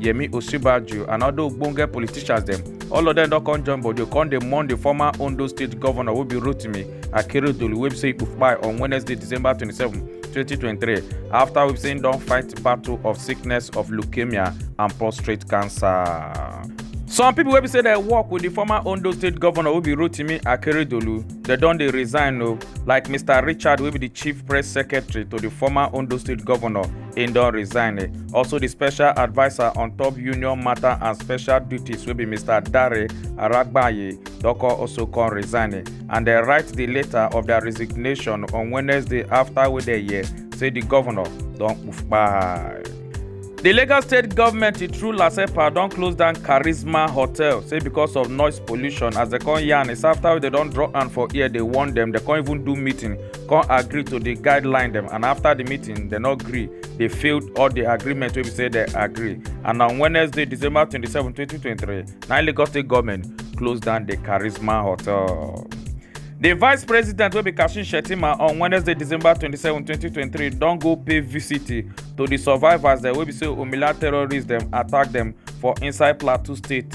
yemi osinbajo and other ogbonge politicians dem all of dem don come join body come dey mourn di former ondo state governor wey be rotimi akeredolu wey be say kpai on wednesday december 27 2023 afta wey be say im don fight battle of sickness of leukemia and prostate cancer. some pipo wey be say dem work wit di former ondo state governor wey be rotimi akeredolu dem don dey resign o like mr richard wey be di chief press secretary to di former ondo state governor im don resign eh. also di special adviser on top union matter and special duties wey be mr dare aragbaye doko also come resign eh. and dem write di letter of dia resignation on wednesday afta wey dem hear say di govnor don kpai. di lagos state government through lasepa don close down charisma hotel say because of noise pollution as dem come yarn is afta wey dem don draw hand for ear dey warn dem dem come even do meeting come agree to the guideline dem and after the meeting dem no gree dey fail all the agreement wey be say dem agree and on wednesday december twenty-seven twenty twenty-three na lagos state government close down the charisma hotel. di vice president wey be kashim shettima on wednesday december twenty-seven twenty twenty-three don go pay visit to di survivors dem wey be say omila terrorists dem attack dem for inside plateau state.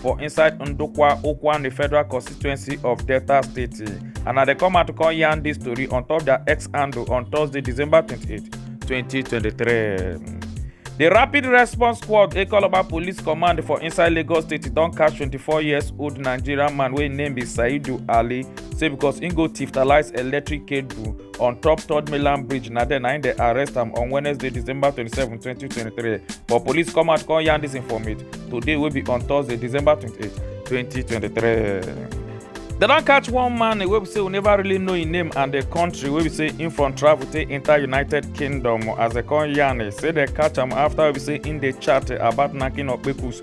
for inside Ndokwa Okwan, the federal constituency of Delta State. And now they come out to call yarn this story on top their ex handle on Thursday, December 28, 2023. The Rapid Response Squad, a Calabar Police Command for inside Lagos State, don catch 24 years old Nigerian man wey name be Saidu Ali, say because im go thiftalize electric cable on top third mainland bridge na there na im dey arrest am on wednesday december 27 2023 but police come out come yarn dis informate today wey be on thursday december 28 2023 dem don catch one man wey be say we never really know im name and di country wey be say im from travel take enter united kingdom as dem come yarn say dem catch am afta wey be say im dey chat about knacking okpekus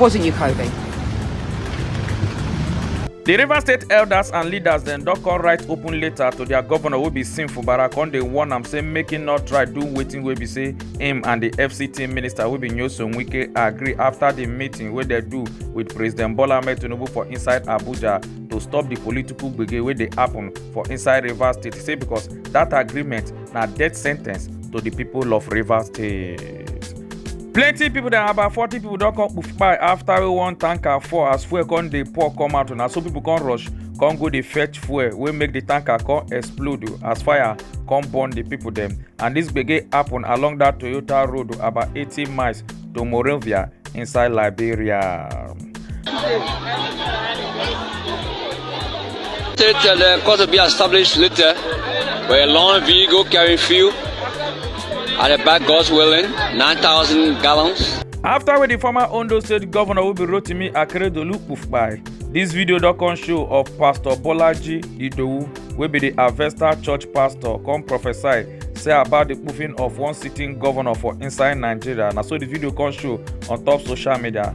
Wasn't you, Kobe? The River State elders and leaders then don come write open letter to their governor wey be Sim Fubara come dey warn am say make him not try do wetin wey be say him and the FCT minister wey be Nyesom Wike agree after the meeting wey dem do with President Bola Ahmed Tinubu for inside Abuja to stop the political gbege wey dey happen for inside Rivers State say because that agreement na death sentence to the people of Rivers State. plenty people than about forty people don come kpai after wey one tanker fall as fuel come dey pour come out na so people come rush come go dey fetch fuel wey make the tanker come explode o, as fire come burn the people dem and this gbege happen along that toyota road o, about eighty miles to morovia inside liberia. It's uh, cause to be established later with a long vehicle carrying fuel at the back, God's willing, 9,000 gallons. After with the former Ondo State Governor will be Rotimi Akeredolu Kufbai, this video don come show of Pastor Bolaji Idowu wey be the Avesta Church pastor come prophesy say about the puffing of one sitting governor for inside Nigeria. Na so the video come show on top social media.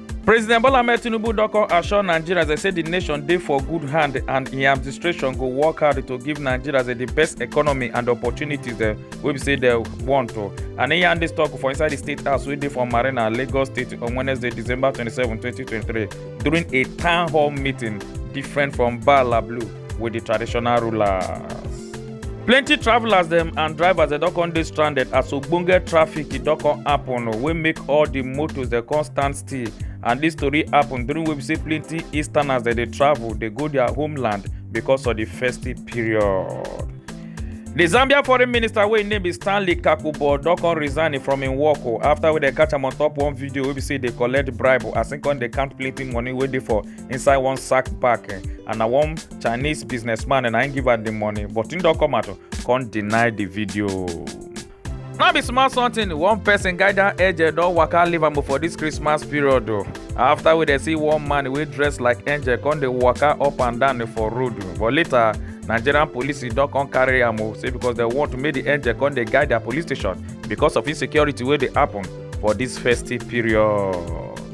President Bola Ahmed Tinubu don come assure Nigerians dey say di nation dey for good hand and im administration go work hard to give Nigerians dey di best economy and opportunities dem wey be say dem want o. And im yarn dis talk for inside di State House wey dey for Marina, Lagos State on Wednesday, December twenty seven, twenty twenty three during a town hall meeting different from Bala Blue. with the traditional rulers. plenty travellers dem and drivers dem don come dey stranded as ogbonge traffic e don come happen oh, wey make all the motos dem come stand still and this story happen during wey be say plenty easterners dem dey travel dey go their homeland because of the festive period. The Zambia foreign minister wey im name be Stanley Kakubo don come resign from im work o oh, after wey dem catch am on top one video wey be say dey collect bribe as im come dey count plenty money wey dey for inside one sack packing and na one chinese businessman and i give her the money but him don come out come deny the video. no be small something one person guy down angel don waka leave am for this christmas period o after we dey see one man wey dress like angel come dey waka up and down for road but later nigerian police don come carry am o say because dem want make the angel come dey guide their police station because of insecurity wey dey happen for this festive period.